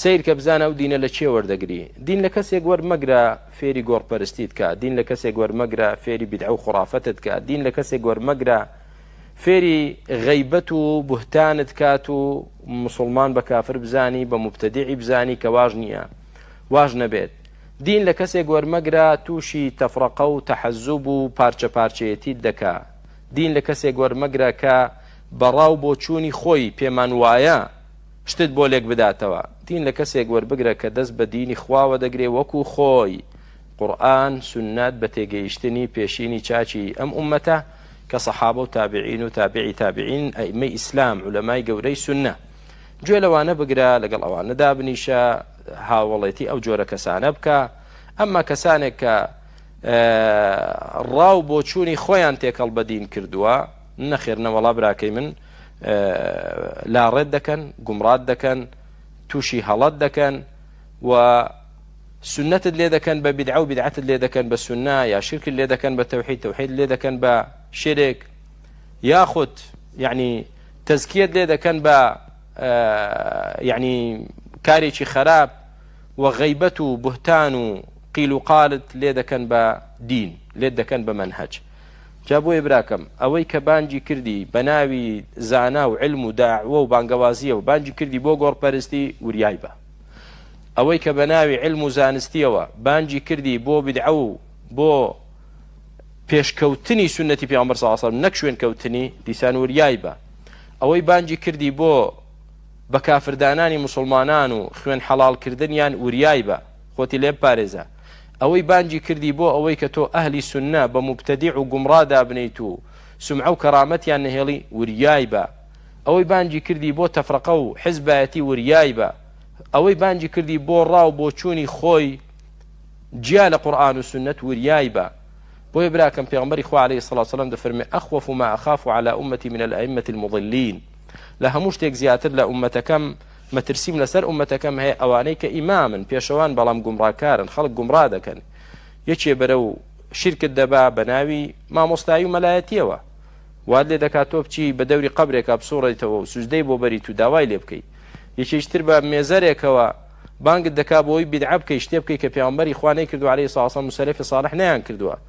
سەیرکە بزانە ئەو دینە لە چێ وەردەگری دین لە کەسێک وەرمەگرە فێری گۆڕپەرستیت کە دین لە کەسێک وەرمەگرە فێری بدعە و خرافەتت کە دین لە کەسێک وەرمەگرە فێری غەیبەت و بهتانت کات و مسلمان بە کافر بزانی بە مبتدیعی بزانی کە واژ نییە واژ نەبێت دین لە کەسێک وەرمەگرە تووشی تەفرەقە و تەحەزوب و پارچە پارچەیەتیت دەکا دین لە کەسێک وەرمەگرە کە بەڕاو بۆ چوونی خۆی پێمان وایە شتت بۆ لێک بداتەوە دین لە کەسێک وەربگرە کە دەست بە دینی خواوە دەگرێ وەکو خۆی قورئان سنەت بە تێگەیشتنی پێشینی چاچی ئەم ئومەتە کە سەحابە و تابعین و تابعی تابعین ئەئیمەی ئیسلام علەمای گەورەی سنە گوێ لەوانە بگرە لەگەڵ ئەوانە دابنیشە هاوڵێتی ئەو جۆرە کەسانە بکە ئەمما کەسانێک کە ڕاو بۆچوونی خۆیان تێکەڵ بەدین کردووە نەخێر نەوەڵا براکەی من لاڕێت دەکەن گومڕات دەکەن تووشی هەڵەت دەکەن و سنتت لێ دەکەن بە بدعە و بدعەتت لێ دەکەن بە سنە یا شرکت لێ دەکەن بە تەوحید تەوحید لێ دەکەن بە شرێک یاخود یعنی تەزکیت لێ دەکەن بە یعنی کارێکی خراپ و غەیبەت و بهتان و قیل و قالت لێ دەکەن بە دین لێت دەکەن بە منهج جا بۆیە براکەم ئەوەی کە بانگی کردی بە ناوی زانا و علم و داعوە و بانگەوازیەوە بانگی کردی بۆ گۆڕپەرستی وریای بە ئەوەی کە بە ناوی علم و زانستیەوە بانگی کردی بۆ بدعە و بۆ پێشکەوتنی سنەتی پیامبەر صلی الله علیه و سلم نەک شوێن کەوتنی دیسان وریای بە ئەوەی بانگی کردی بۆ بە کافردانانی مسلمانان و خوێن حەڵال کردنیان وریای بە خۆتی لێ بپارێزە ئەوەی بانگی کردی بۆ ئەوەی کە تۆ ئەهلی سوننە بە موبتەدیع و گومڕا دابنێیت و سومعە و کەرامەتیان نەهێڵی وریای بە ئەوەی بانگی کردی بۆ تەفرەقە و حزبایەتی وریای بە ئەوەی بانگی کردی بۆ ڕا و بۆچوونی خۆی جیا لە قورئان و سوننەت وریای بە بۆیە براکەم پێغمبەری خوا عليه الصلاة والسلام دەفەرمێ اخوف ما اخاف على امتي من الائمة المضلين لە هەموو شتێک زیاتر لە امەتەکەم مەترسیم لەسەر ئومەتەکەم هەیە ئەوانەی کە ئیمامن پێشەوان بەڵام گومڕاکارن خەڵک گومڕا دەکەن یەکێ بەرەو شیرکت دەبا بە ناوی مامۆستایی و مەلایەتیەوە واد لێ دەکات تۆ بچی بە دەوری قبرێکا بسوڕێتەوە و سوزدەی بۆ بەریت و داوای لێ بکەیت یەکێشتر بە مێزەرێکەوە بانگت دەکا بۆی بیدعە بکەی شتێ بکەی کە پێغەمبەری خوا نەیکردو عەلەیهی سڵاوسڵام و سەلەفی ساڵح نەیان کردووە